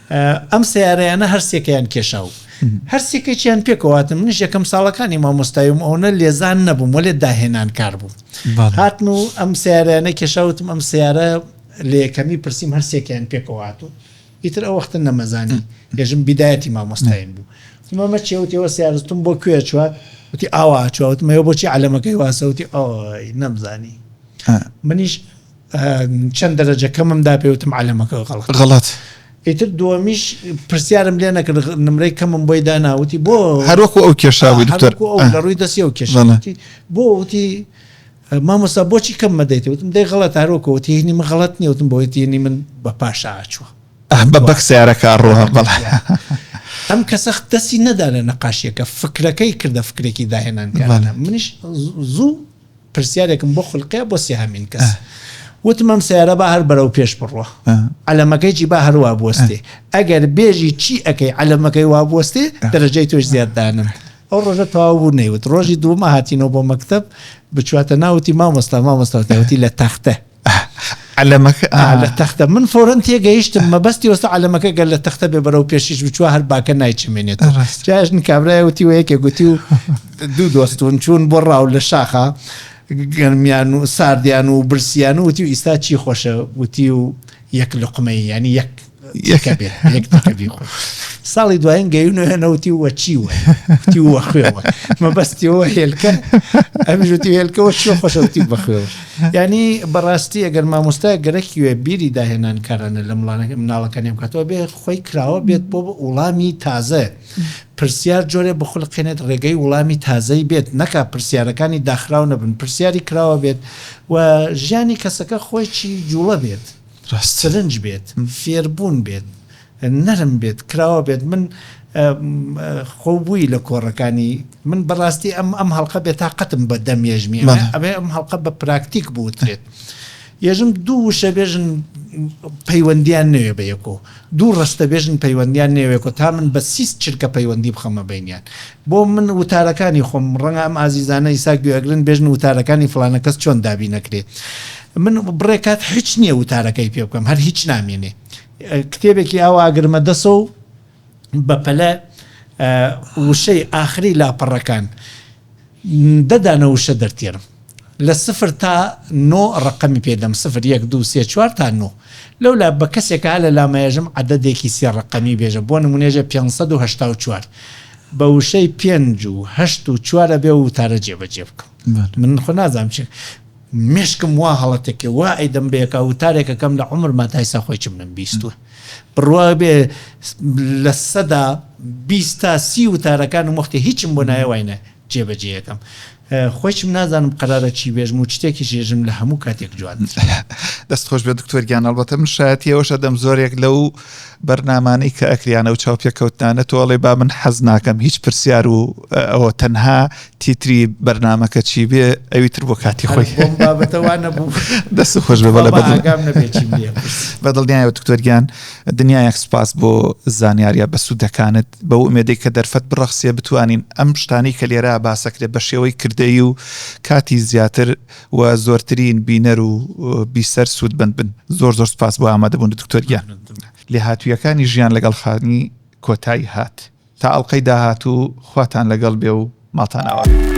ئەم سەیارەیانە هەر سێکەیان کێشا و هەر سێکێکیان پێکەوە هاتن. منیش یەکەم ساڵەکانی مامۆستایی بووم، ئەوەنە لێزان نەبووم، وەلێ داهێنانکار بووم. هاتن و ئەم سەیارەیانە کێشا، وتم ئەم سەیارە لە یەکەمی پرسیم هەر سێکەیان پێکەوە هاتوون. ئیتر ئەو وەختە نەمەزانی، ئێژم بیدایەتی مامۆستاییم بوو. وتم ئەمە چییە؟ وتی ئەوە سەیارە. وتم بۆ کوێ چووە؟ وتی ئاوا چووە. وتم ئەوە بۆچی عەلەمەکەی واسە؟ وتی ئای نەمزانی. منیش. چەند دەرەجە کەمم دا پێی وتم عەلەمەکە غەڵەت. غەڵەت. ئیتر دووەمیش پرسیارم لێ نەکرد نمرەی کەمم بۆی دانا وتی بۆ؟ هەر وەکو ئەو کێشا بووی دکتۆر. هەر وەکو ئەو لە ڕووی دەستی ئەو کێشا بوو. وتی بۆ؟ وتی مامۆستا بۆچی کەم مەدەیت؟ وتم دەی غەڵەتە هەر وەکو وتی هینی من غەڵەت نییە وتم بۆ؟ وتی هینی من بە پاشا ئەچووە. بە بەک سەیارەکە ئەڕوا بەڵێ. ئەم کەسە دەستی نەدا لە نەقاشییەکە فکرەکەی کردە فکرێکی داهێنانکارانە منیش زوو. پرسیارێکم بۆ خولقیە بۆ سێهەمین کەس وتم ئەم سەیارە با هەر بەرەو پێش بڕوا عەلەمەکەیی با هەروا بوەستێ ئەگەر بێژی چی ئەەکەی عەلەمەکەی وا بوەستێ دەرەجەی تۆش زیاد دانم ئەو ڕۆژە تەواو بوو نەیوت ڕۆژی دوومە هاتینەوە بۆ مەکتب بچواتە ناوتی مامۆستا مامۆستاوتیوتی لە تەختە عەلەمەکە ئا لە تەختە من فورەن تێگەیشتم مەبەستی وەستا عەلەمەکە گەر لە تەختە بێ بەرەو پێشیش بچوە هەر باکە نایچمێنێت جاشن کابرای وتی وە یەکێ گوتی و دوو دۆستون چوون بۆ ڕاو لە شاخە گەرمیان و ساردیان و برسیان و وتی و ئیستا چی خۆشە وتی و یەک لقمەی ینی یەک ساڵی دوایین گەیونەوە نەوتی وە چی وە کوتی وە خوێوە مەبەستیەوە هێلکە ئەمژوتی هێلکەوە چی خۆشەوتی بە خوێوە ینی بەڕاستی ئەگەر مامۆستا گەرەکیێ بیری داهێنان کارانە لە مڵانەکە مناڵەکە نێبکاتەوە بێ خۆی کراوە بێت بۆ بە وڵامی تازە پرسیار جۆرێ بخولقێنێت ڕێگەی وڵامی تازەی بێت نەکا پرسیارەکانی داخراو نەبن پرسیاری کراوە بێت و ژیانی کەسەکە خۆی چی جوڵە بێت. ڕاستەلنج بێت، فێربوون بێت، نەرم بێت، کراوە بێت، من خۆو بووی لە کۆڕەکانی من بەڕاستی ئەم ئەم هەڵقە بێ تاقەتم بە دەم یەژمی ئەبێ ئەم هەڵقە بە پراکتیک بوترێت یەژم دوو وشە بێژن پەیوەندیان نەوێ بە یەکۆ دوو ڕستەبێژن پەیوەندیان نەیەوێکۆ تا من بە سیست چرکە پەیوەندی بخەمە بەینیان بۆ من وتارەکانی خۆم ڕەنگە ئەم ئازیزانە ئیسا گوێ ئەگرن بێژن وتارەکانی فڵانە کەس چۆن دابی نەکرێ من بڕێ کات هیچ نییە وتارەکەی پێ بکەم هەر هیچ نامێنێ کتێبێکی ئاوا ئەگرمە دەسەوە بە پەلە وشەی ئاخری لاپەڕەکان دە دانە وشە دەرتێنم لە سفر تا نۆ ڕەقەمی پێ دەم سفر یەک دوو سێ چوار تا نۆ لەو لا بە کەسێکە هە لە لامەیەژم عەدەدێکی سێ ڕەقەمی بێژە بۆ نمونێژە پێنج سەد و هەشتا و چوار بە وشەی پێنج و هەشت و چوارە بێ و وتارە جێبەجێ بکەم بەر. من خۆ نازانم چ مشکم وا هەڵەتێکێ وا ئەیدەم بەیەکا وتارێکەکەم لە عمرما تایسا خۆی چم نەم بیستوە بڕوابێ لە سەدا بیست تا سی وتارەکانم وەختێ هیچم بۆ نایە واینە جێبەجێەکەم خۆشم نازانم قرارە چی بێژم و شتێکی ژێژم لە هەموو کاتێک جوان دەست خۆش بێت دکتۆرگیان ئەڵبەتە من شایەتیەوەشە دەم زۆرێک لەو بەرنامانەی کە ئەکریانە و چاوپێکەوتنانە تۆڵێ با من حەز ناکەم هیچ پرسیار و ئەوە تەنها تیتری بەرنامەکە چی بێ ئەوی تر بۆ کاتی خۆی دەست خۆش بە بەدڵنیایە دکتۆرگیان دنیایەک سپاس بۆ زانیاریە بە سوودەکانت بە ئومێدەی کە دەرفەت بڕەخسیە بتوانین ئەم شتانی کە لێرا باسەکرێ بە شێوەی کردەی و کاتی زیاتر و زۆرترین بینەر و بیسەر سوود بند بن زۆر زۆر سپاس بۆ ئامادەبوون دکتۆرگیان لێهاتوویەکانی ژیان لەگەڵ خانی کۆتایی هات. تا ئەڵقەی داهاتوو خواتان لەگەڵ بێ و ماڵتان ئاوا بێت.